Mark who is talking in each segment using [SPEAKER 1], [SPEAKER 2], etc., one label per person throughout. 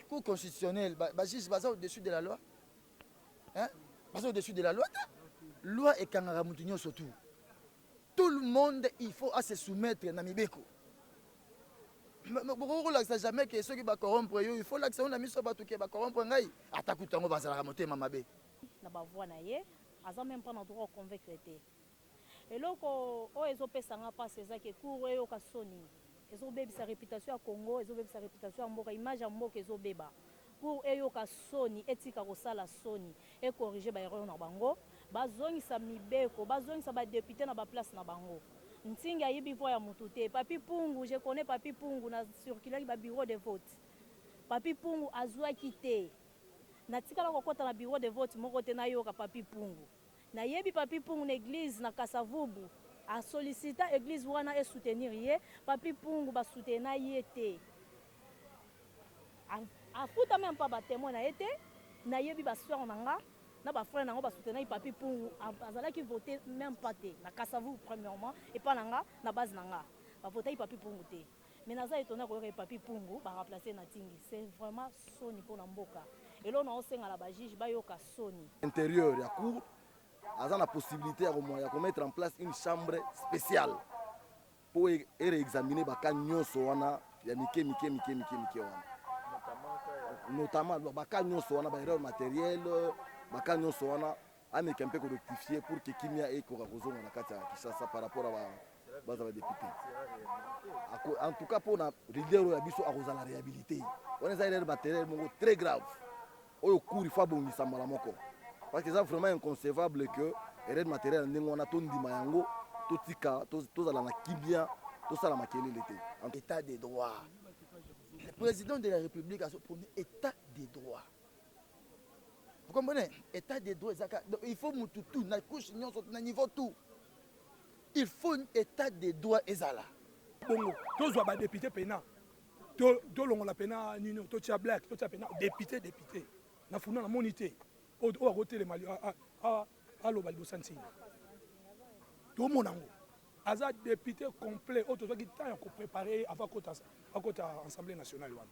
[SPEAKER 1] Cour constitutionnelle, ba juges baza au-dessus de la loi? Hein? Baza au-dessus de la loi te. Loi ekangaka mutu nyonso tout. Tout le monde il faut à se soumettre na mibeko. Bokoki kolakisa jamais ke soki ba corrompre yo, il faut lakisa yo na miso bato ke ba corrompre ngai. Ata kutu yango bazalaka motema mabe. Na ba voix na
[SPEAKER 2] ye, aza meme pas na droit au convaincre te. Eloko oyo ezo pesa nga pasi eza ke cour eyoka soni ezo bebisa reputation ya congo ezo bebisa reputation ya mboka image ya mboka ezo beba cour eyoka soni etika kosala soni e corrige ba erreur na bango ba zongisa mibeko ba zongisa ba depute na ba place na bango nsingi ayibi voix ya mutu te papy pungu je connais papy pungu na circulaki ba bureau de vote papy pungu azuaki te na tikala kokota na bureau de vote moko te nayoka papy pungu Na yebi Papy Mpungu na eglise na Kasa Vubu a sollicita eglise wana e soutenir ye, Papy Mpungu ba soutena ye te, a futa meme pas ba temoins na ye te, na yebi ba soeurs na nga na ba frères na yango ba soutenaki Papy Mpungu, azalaki vote meme pas te na Kasa Vubu premierement epa na nga na base na nga ba votaki Papy Mpungu te. Mais naza etonne koyoka ke papy pungu ba remplacer ye na tingi c'est vraiment soni pona mboka eloko nazo senga na ba juges bayoka soni. interieur ya cour
[SPEAKER 3] aza na possibilite ya ko mettre en place une chambre speciale po e reexaminer ba cas nionso wana ya mike mike mike mike mike wana notamment ba cas nionso wana ba erreurs materielles ba cas nionso wana Ameka mpe ko rectifier pour que kimia ekoka kozonga na kati ya Kinshasa par rapport ya baza ba depute. En tout cas mpo na leader oyo ya biso akozala rehabilite. Wana eza erreur materielle moko très grave oyo cour il faut abongisa mbala moko parce que eza vraiment inconcevable que erreur materielle ndenge wana tondima yango totika tozala na kimia tosala makelele te en état de droit
[SPEAKER 1] le président de la république azo prône état de droit Vous comprenez? Etat de droit ezaka donc il faut mutu tout na couche nyonso na niveau tout il faut etat de droit ezala bongo
[SPEAKER 4] tozwa ba depute pena tolongola to pena nino totia black totia pena depute depute na funa na moni te oyo akotelema aloba liboso ya ntina tomona yango aza depute complet oyo tozwaki temps ya koprepare ye avant akota assemblée nationale wana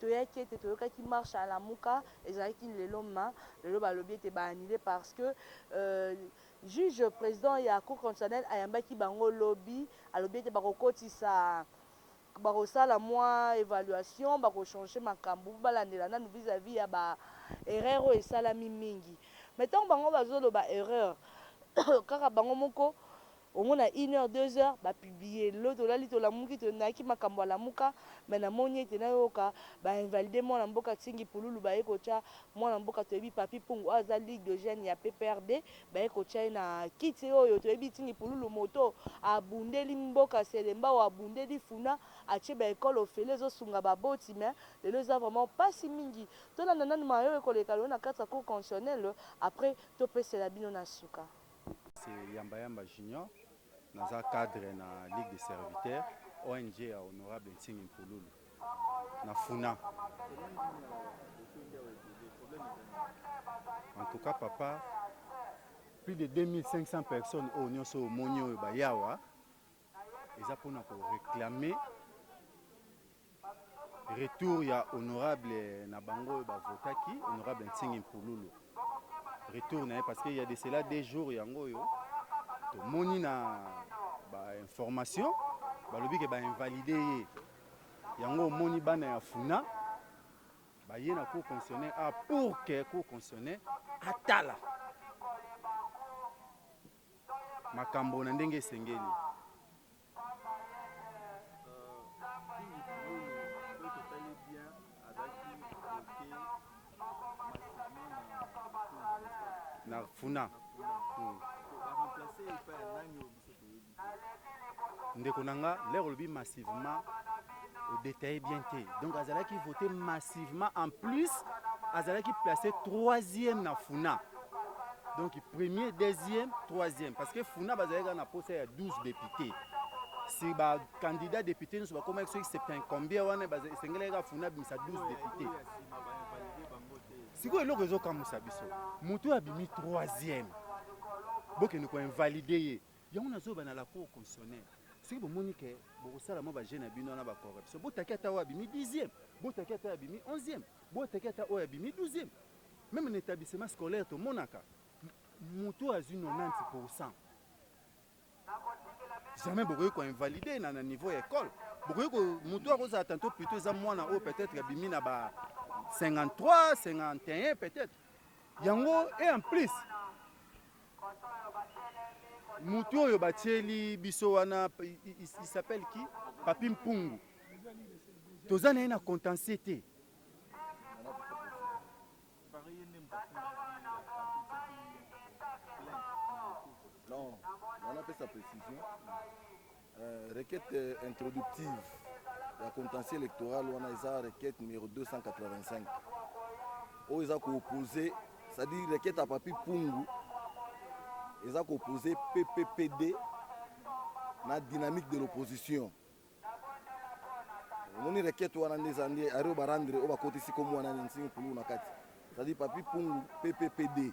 [SPEAKER 2] Toyaki ete toyokaki marche ya lamuka ezalaki lelo ma lelo balobi ete ba annuler parce que juge president ya cour constitutionnelle ayambaki bango lobi alobi ete bakokotisa bakosala mwa evaluation bako changer makambo po balandela nanu vis à vis ya ba erreur oyo esalami mingi mais ntango bango bazoloba erreur kaka bango moko Omona une heure deux heures ba publie lelo tolali tolamuki tonaki makambo ya lamuka mais namoni ete nayoka ba invalide mwana mboka tsingi pululu baye kotia mwana mboka toyebi papy mpungu oyo aza ligue de jeune ya pprd baye kotia ye na kiti oyo toyebi tsingi pululu moto abundeli mboka selembao abundeli funa atie ba ecole ofele ezosunga ba boti mais lelo eza vraiment pasi mingi tolanda nanu mayo ekoleka lelo na kati ya cour constitutionnelle après topesela bino na suka. C'est Yamba
[SPEAKER 5] Yamba Junior, naza cadre na Ligue des serviteurs, ONG ya Honorable Nsingi Mpululu na Funa. En tout cas papa, plus de 2500 personnes oyo nionso omoni oyo baya awa, Eza pona ko reclamer retour ya honorable na bango oyo ba votaki honorable Nsingi Mpululu retour na ye parce que ya de cela deux jours yango oyo tomoni na ba information balobi ke ba invalide ye yango omoni bana ya funa baye na cour constitutionnelle a ah, pour que cour constitutionnelle atala makambo na ndenge esengeli. na funa hmm. ndeko na nga lere olobi massivement odetaye bien te donc azalaki vote massivement en plus azalaki place troisième na funa donc premier deuxième troisième parce que funa bazalaki kaka na posa ya 12 député si bacandidat député nyonso bakomaki soki septin combien wana esengelaki kaka funa abimisa 12 député sikoyo eloko ezokamwisa biso moto oyo abimi troisième bokende koinvalide ye Yango na zoba na la cour constitutionnelle soki bo moni que boko sala mwa ba jeux na bino wana ba corruption bo taki ata oyo abimi dixième bo taki ata oyo abimi onzième bo taki ata oyo abimi douzième meme na etablissement scolaire to monaka mutu oyo azui 90 pour 100 jamais bokoki ko invalider na na niveau ya ecole bokoki ko mutu oyo akozala tanto plutôt eza mwana oyo peut-être abimi na ba 53 51 peut-être yango et en plus Mutu oyo batieli biso wana il s'appelle qui Papi Mpungu toza na ye na contentieux te
[SPEAKER 3] non wana pesa précision Euh, requête introductive ya contentieux électoral wana eza requête numéro 285 oyo eza koopose c'est-à-dire requête ya papi pungu eza koopose pppd na dynamique de l'opposition omoni requête wana nde eza nde ario barandre oyo bakotisi komo wana nsingi pululu na kati c'est-à-dire papi pungu pppd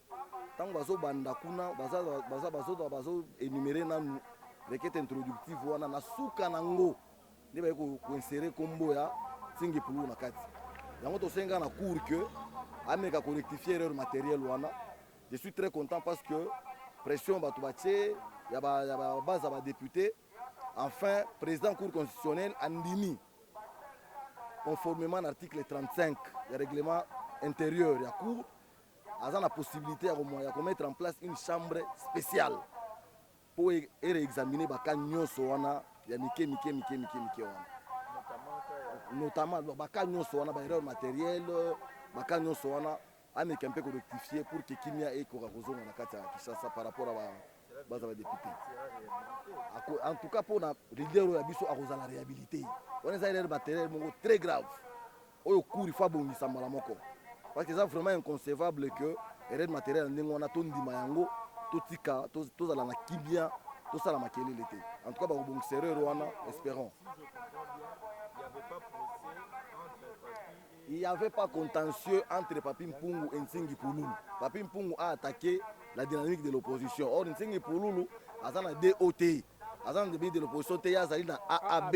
[SPEAKER 3] Tango bazo banda kuna baza baza bazo bazo enumerer nanu requête introductive wana na suka nango nde baye ko insérer kombo ya Tsingi Pulu na kati. Yango tosenga na cour que ameka ko rectifier erreur matérielle wana. Je suis très content parce que pression bato batie ya ba ya ba base ya ba députés enfin président cour constitutionnelle andimi conformément na article 35 ya règlement intérieur ya cour aza na possibilité ya komoya ko mettre en place une chambre spéciale mpo e, e réexaminer baka nyonso wana ya mike mike mike mike mike wana notamment baka nyonso wana baerreur matérielle baka nyonso wana ameka mpe korectifie pour ke kimia ekoka kozonga na kati ya kinshasa par rapport a baza badepute en tout cas mpona leader oyo ya biso akozala réhabilité wana eza erreur matérielle moko très grave Oyo cours il faut abongisa mbala moko parce que eza vraiment inconcevable que erreur materielle ndenge wana tondima yango totika tozala na kimia tosala makelele te en tout cas bakobongisa erreur wana espérons il n'y avait pas contentieux entre Papi Mpungu et Nsingi Pouloulou. Papi Mpungu a attaqué la dynamique de l'opposition. Or, Nsingi Pouloulou, Azana DOT, Azana de l'opposition, Azali dans AAB.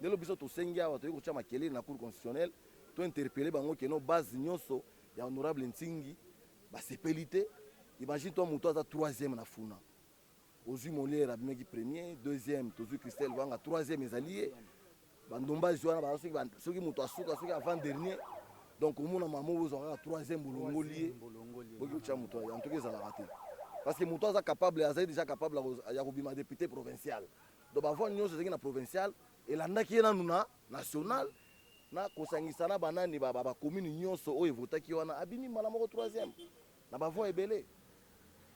[SPEAKER 3] Lelo biso tosengi awa toye kotia makelele na cour constitutionnelle to interpelle bango que non base nionso ya honorable Nsingi basepeli te imagine toi mutu aza troisième na funa ozui Molière abimaki premier deuxième tozui Christelle Lwanga troisième ezali ye ba ndombasi wana baza soki, soki mutu asuka soki avant dernier donc omona mama oyo ozwa kaka troisième bolongoli ye boki kotia mutu en tout cas ezalaka te parce que mutu aza capable azali déjà capable ya kobima député provincial Donc ba voix nionso ezalaki na provincial elandaki ye nanu na national na kosangisa na ba nani ba ba commune nionso oyo evotaki ye wana abimi mbala moko troisième na ba voix ebele.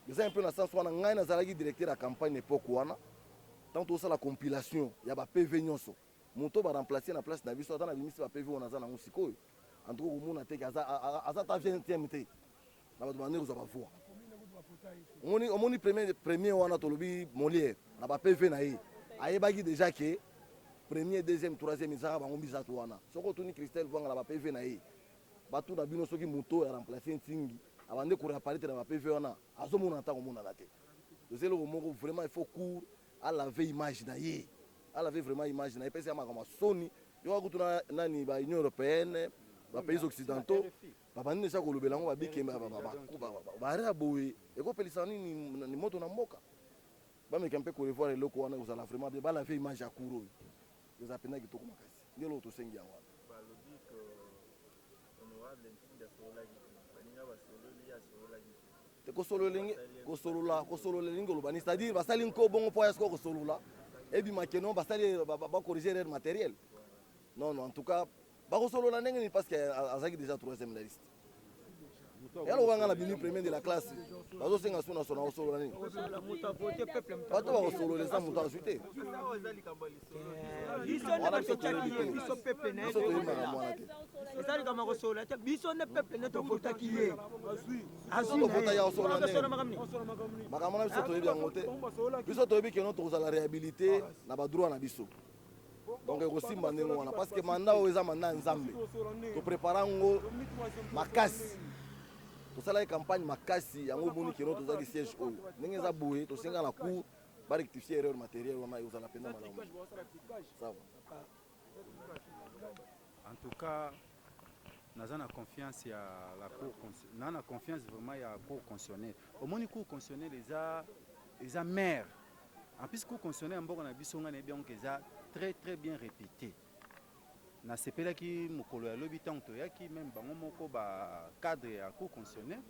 [SPEAKER 3] Eza un peu na sens wana ngai nazalaki directeur ya campagne na epoque wana tango tozosala compilation ya ba PV nionso moto oyo ba remplacer ye na place na biso aza na abimisi ba PV oyo naza na yango sikoyo en tout cas okomona te que aza aza ata vingtième te. na bato bande kozwa bavua omoni omoni premier premier wana tolobi moliere na ba pv na ye ayebaki deja ke premier deuxième troisième ezaka bango misato wana soki otuni christelle vwanga na ba pv na ye bato na bino soki moto oyo aremplace ntingi abande koreaparete na ba pv wana azomona ntango omonana te eza eloko moko vraiment il faut cour alave image na ye alave vraiment image na ye epesi ya makambo ya soni yoka kutu na nani ba union européenne ba pays occidentaux Babandi deja kolobela yango babikembe bare ya boye ekopelisa nini moto na mboka bameka mpe korevoir eloko wana ekozala vraiment bien balave image ya cour oyo eza mpenza kitoko makasi nde eloko tosengi yango wana te kosolo elingi kosolola kosolola elingi koloba ni c'est-à-dire basali nko bongo mpo ya sikoyo kosolola ebima keno basali bakorige erreur matériel non non en tout cas Bako solola ndenge nini parce que azaki déjà troisième la liste. Ya lokola nga na bimi premier de la classe. Bazo senga sona sona ko solola nini? Bato bako solola eza moto azwi te. Biso nde bato tchaki ye, biso peuple na ye. Biso toyemba na mwana te. Eza likama ko solola
[SPEAKER 6] te, biso nde peuple ne to votaki ye. Azwi. Azwi. To
[SPEAKER 3] vota ya ko solola ndenge. Makambo na biso toyebi yango te. Biso toyebi que non tokozala réhabilité na ba droit na biso. donc ekosimba ndenge wana parce que manda oyo eza manda ya nzambe toprepara yango makasi tosalaki campagne makasi yango omoni kino tozalaki siège oyo ndenge eza boye tosenga na cour barectifie erreur matériel wana ekozala mpenza malamu sawa
[SPEAKER 5] en tout cas naza na confiance ya la cour na na confiance vraiment ya cour constitutionnelle omoni cour constitutionnelle eza eza mare En plus cour constitutionnelle ya mboka na biso ngai nayebi yango eza très très bien repute. Nasepelaki mokolo ya lobi ntango toyaki meme bango moko ba cadre ya cour constitutionnelle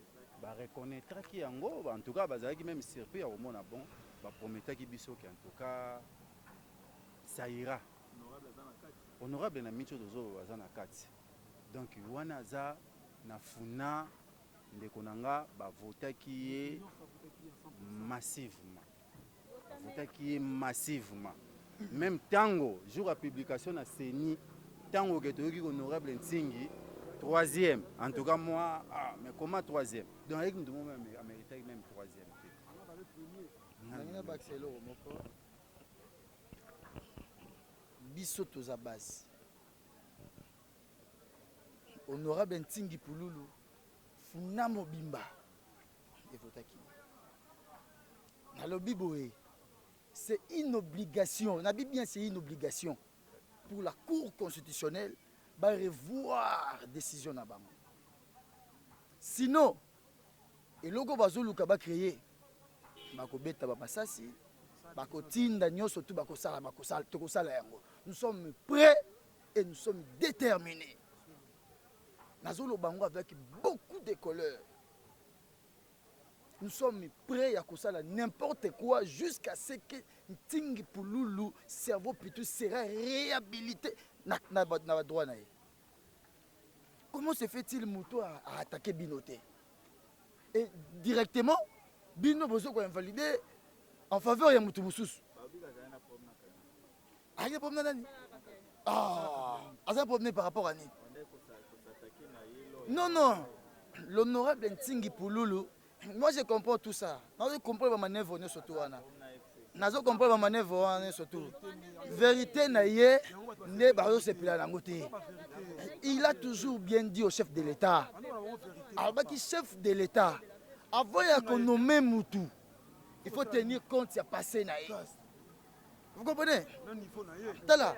[SPEAKER 5] ba reconnaîtraki yango en tout cas bazalaki meme surpris ya komona bon ba prometaki biso que en tout cas ça ira honorable na micho tozoloba aza na kati donc wana aza na funa Ndeko na nga ba votaki ye massivement, ba votaki ye massivement meme tango jour ya publication na CENI tango ke toyoki honorable Nsingi troisième en tout cas moi ah, mais comment troisième donc ayeki mutu moko ameritaki meme troisième te
[SPEAKER 1] biso toza base Honorable Ntingi Pululu, Funa mobimba evotaki. Nalobi boye, c'est une obligation, nabi bien c'est une obligation pour la Cour constitutionnelle ba revoir décision na bango. Sinon, eloko bazoluka ba créer bakobeta ba masasi, bakotinda nyonso tu bakosala bakosala tokosala yango. Nous sommes prêts et nous sommes determinés nazoloba yango avec beaucoup de coleur nous sommes prêts ya kosala n'importe quoi jusqu'à ce que ntingi pululu cerveau pitu sera réhabilité na, na, na, na badroit na ye comment se fait-il moto aattaquer bino te et directement bino bozo koinvalide en faveur ya moto mosusu Aye problème na nani? Ah, aza problème par rapport à nini? Non non, l'honorable Ntingi Pululu, moi je comprends tout ça. Nazo comprendre ba manœuvre nyoso tout wana. Nazo comprendre ba manœuvre wana nyoso tout. Vérité na ye nde bazo sepela nango te. Il a toujours bien dit au chef de l'État. Alobaki chef de l'État avant ya ko nommer mutu, il faut tenir compte ya passé na ye. Vous comprenez? Tala,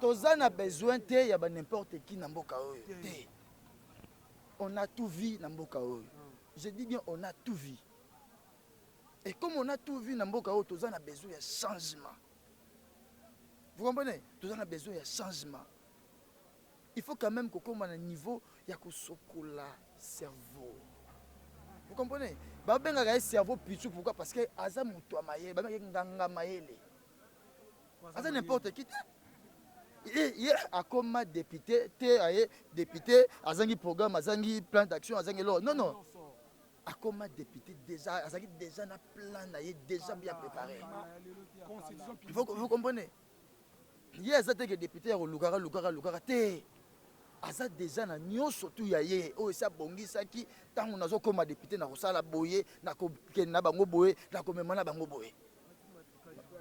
[SPEAKER 1] toza na besoin te ya ba n'importe qui na mboka oyo te. On a tout vie na mboka oyo. Je dis bien on a tout vie. Et comme on a tout vie na mboka oyo toza na besoin ya changement. Vous comprenez? Toza na besoin ya changement. Il faut quand meme kokoma na niveau ya kosokola cerveau. Vous comprenez? Ba bengaka ye cerveau pitchou pourquoi? Parce que aza moto ya mayele, ba bengaka nganga mayele. Aza n'importe qui te. ye akoma depute te aye depute azangi programme azangi plan d'action azangi eloko non non akoma depute déjà azalaki déjà na plan na ye déjà bien préparé vous comprenez Ye aza te ke depute ya kolukaka lukaka lukaka te aza deja na nyonso tu ya ye oyo esi abongisaki ntango nazokoma depute na kosala boye na kokende na bango boye na komema na bango boye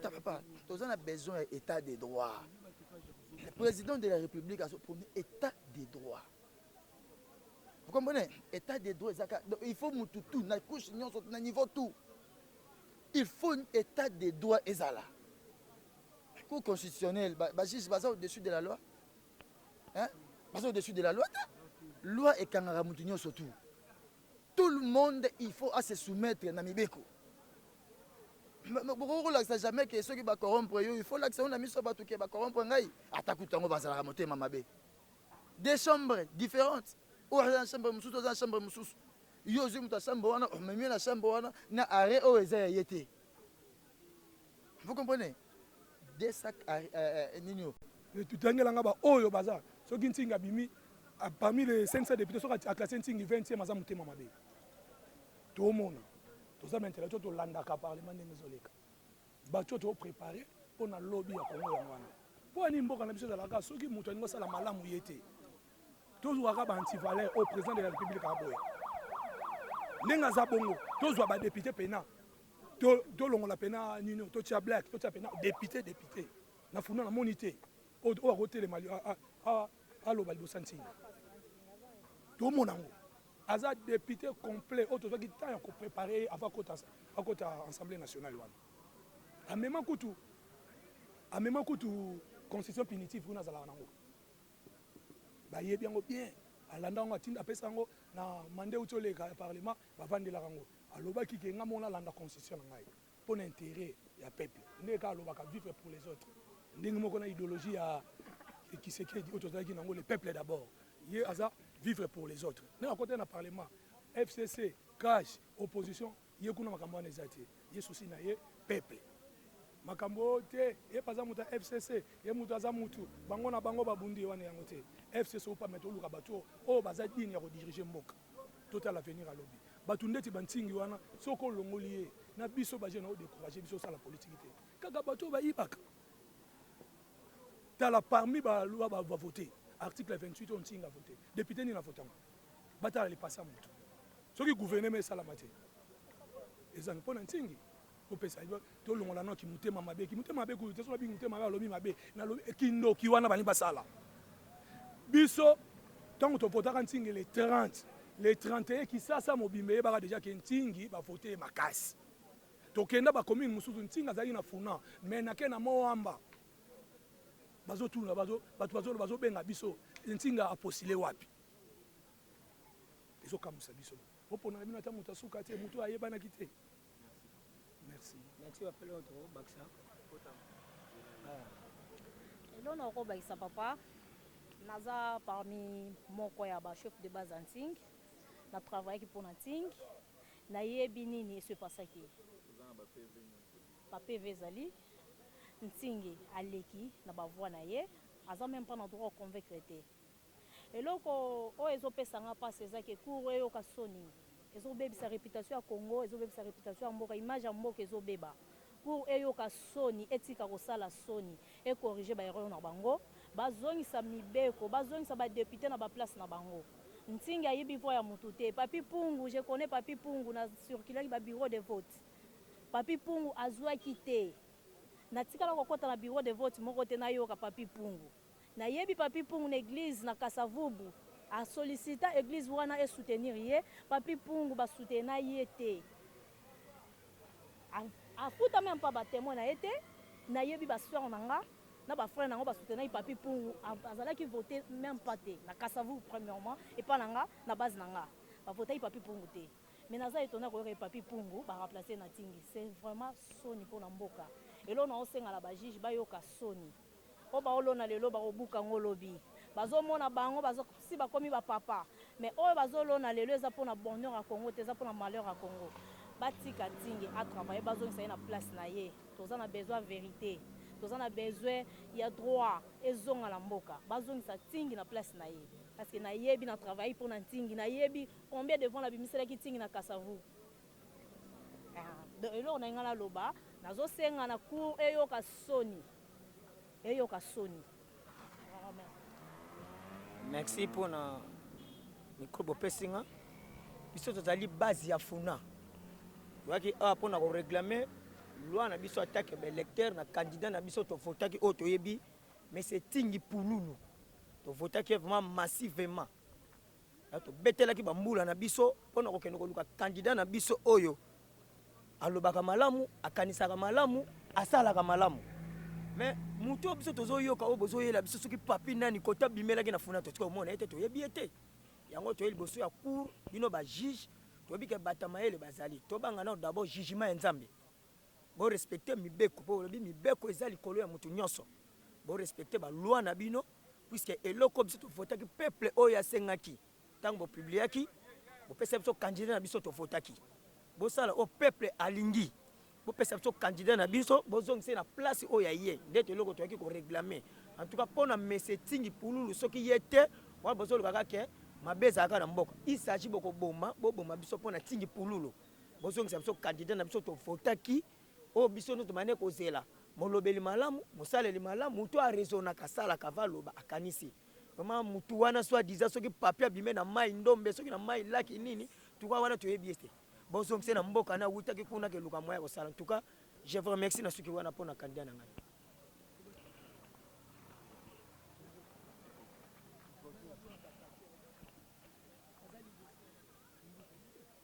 [SPEAKER 1] papa toza na besoin ya état de droit le président de la république azoponi état de droit vous comprenez état de droit ezaka donc il faut mutu tu na couche nyonso na niveau tout Il faut etat de droit ezala. Cour constitutionnelle, ba, ba juges baza au-dessus de la loi. Hein? Baza au-dessus de la loi te. Loi ekangaka mutu nyonso tout. Tout le monde il faut à se soumettre na mibeko. Bokoki kolakisa jamais ke soki ba corrompre yo, il faut lakisa yo na miso bato ke ba corrompre ngai. Ata kutu yango bazalaka motema mabe. Des chambres différentes. Oyo aza na chambre mosusu, oza na chambre mosusu. yo ozwi moto ya chambre wana omemi ye na chambre wana na arret oyo eza ya ye te vous comprenez de sac euh, euh, nini oyo tutangela
[SPEAKER 4] nga baoyo baza soki ntingi abimi ah, parmi les 500 députés soki aklase ntingi 20e aza motema mabe tomona toza baintellectuel tolandaka parlement ndenge ezoleka bato oyo toprépare mpo na lobi ya kongo yango wana mpo ani mboka na biso ezalaka soki moto alingi osala malamu ye te Tozua kaka ba anti valeur oyo president de la republique aboya ndenge aza bongo tozua ba depute pena tolongola pena nino totia black totia pena depute depute na funda na moni te oyo akotelema aloba liboso ya ntina tomona yango aza depute complet oyo tozwaki temps ya koprepare ye avant akota assemblée nationale wana amema kutu amema kutu constitution punitive kuna azalaka nango ba yebi yango bien alanda yango atinda apesa yango na mande uti oleka ya parlement ba vandelaka yango alobaki ke nga moko na landa constitution na ngai pona interet ya peuple nde ka alobaka vivre pour les autres ndenge moko na ideologie ya kisekedi oyo tozalaki na yango le peuple d'abord ye aza vivre pour les autres nde akotaki na parlement fcc cash opposition Ye kuna makambo wana eza te ye souci na ye peuple makambo oyo te ye pe aza mutu ya FCC ye mutu aza mutu bango na bango ba bundi ye wana yango te FCC ou pas mais toluka batu oyo baza digne ya ko diriger mboka totala avenir ya lobi batu ndeti ba Nsingi wana soki olongoli ye na biso ba jeune o decourager biso osala politique te kaka batu oyo ba yibaka tala parmi ba loi ba voter article 28 oyo Nsingi a voter depute nini a voter yango? batala lipasa ya moto soki guvernema esalama te eza mpo na ntingi opesa tolongola no kimotema mabe kimotema mabe kuyu te soki abingi motema mabe alobi mabe nalobi eh, kindoki wana balingi basala biso ntango topotaka ntingi le 30 le 31 kisasa mobimba eyebaka deja ke ntingi bavote ye makasi tokenda bakomine mosusu ntingi azalaki na funa me nake na moamba bazotuna bato bazobenga biso ntinga aposile wapi ezo kamuisa biso bo ponaka bino ata mutu ya suka te mutu oyo ayebanaki te merci merci ba pele oto bakisa
[SPEAKER 7] elona ah. oko bakisa papa naza parmi moko ya ba chef de base en ting na travailler ki pona ting na yebi nini esu epasaki ba pv ezali ntingi aleki na bavoi na ye aza meme mpo na droit oconvaincre te Eloko oyo ezo pesa nga pasi eza ke cour eyoka soni ezo bebisa reputation ya congo ezo bebisa reputation ya mboka image ya mboka ezo beba cour eyoka soni etika kosala soni e corrige ba erreur na bango ba zongisa mibeko ba zongisa ba depute na ba place na bango nsingi ayibi voix ya mutu te papy pungu je connais papy pungu na circulaki ba bureau de vote papy pungu azuaki te na tikala kokota na bureau de vote moko te nayoka papy pungu Na yebi Papy Mpungu na eglise na Kasa Vubu. A sollicita eglise wana e soutenir ye. Papy Mpungu ba soutena ye te. A futa meme pas ba temoins na ye te. Na yebi ba soeurs na nga na ba frères na yango ba soutenaki Papy Mpungu. A zalaki vote meme pas te na Kasa Vubu premierement epa na nga na base na nga. Ba votaki Papy Mpungu te. Mais naza etonnee ya koyoka ke Papy Mpungu ba remplacer ye na Tingi. C'est vraiment soni pona mboka. Eloko nazo senga na ba juges ba yoka soni. Oyo bao lona lelo bako buka ngo lobi. Bazo mona bango ba si ba komi ba papa mais oyo bazo lona lelo eza pona bonheur ya Congo te eza pona malheur ya Congo. Ba tika Tsinge a travailler ba zongisa ye na place na ye. Toza na besoin ya verite. Toza na besoin ya droit ezonga na mboka. Ba zongisa Tsingi na place na ye. Parce que na yebi na travailler pona Tsingi. Na yebi combien de fois na bimiselaki Tsingi na Kasavu. Ahh donc eloko nalingi nga na loba nazo senga na cour eyoka soni. eyoka soni vraiment.
[SPEAKER 6] Merci pona micro bopesi nga biso tozali base ya funa oyaki awa mpona koreglame loi na biso atake baelecteur na candidat na biso tovotaki oyo toyebi mais etingi pululu tovotaki ye vraiment massivement Tobetelaki bambula na biso mpo na kokende koluka kandida na biso oyo alobaka malamu, akanisaka malamu, asalaka malamu. Me moto oyo biso tozoyoka oyo bozoyela biso soki papi nani kota bimelaki na funa totika omona ye te toyebi ye te yango toye liboso ya cour bino bajuge toyebi ke bata mayele bazali tobanga nao dabord jugement ya nzambe Bo respecter mibeko po bolobi mibeko eza likolo ya mutu nionso. Bo respecter ba lois na bino puisque eloko biso to votaki peuple oyo asengaki tango bo publiaki bo pesa biso candidat na biso to votaki. Bo sala oyo peuple alingi. Bo pesa biso candidat na biso bo zongisa ye na place oyo ya ye nde to eloko toyaki ko reglamer. En tout cas pona monsieur Tsingi pululu soki ye te wana bozo loba kaka que mabe ezalaka na mboka il s'agit boko boma bo boma biso pona Tsingi pululu. Bozongisa biso candidat na biso tovotaki oyo oh, biso nde tobandaki kozela molobeli malamu mosaleli malamu motu arezonaka asalaka valoba akanisi vraiment motu wana soit disant soki papier abime na mai ndombe soki na mai laki nini tuka wana toyebi ye te bozongise na mboka na awutaki kuna keluka moya kosala ntuka je vous remercie na suki wana mpo na candidat na ngai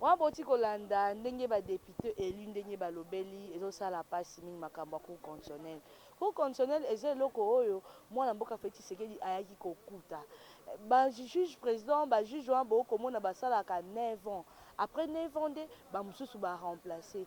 [SPEAKER 2] wana boti kolanda ndenge badepute elu ndenge balobeli ezosala mpasi mingi makambo ya cour constitutionnel cour constitutionnel eza eloko oyo mwana mboka feti tshisekedi ayaki kokuta bajuge président bajuge wana bokomona basalaka 9 ans après 9 ans nde bamosusu baremplace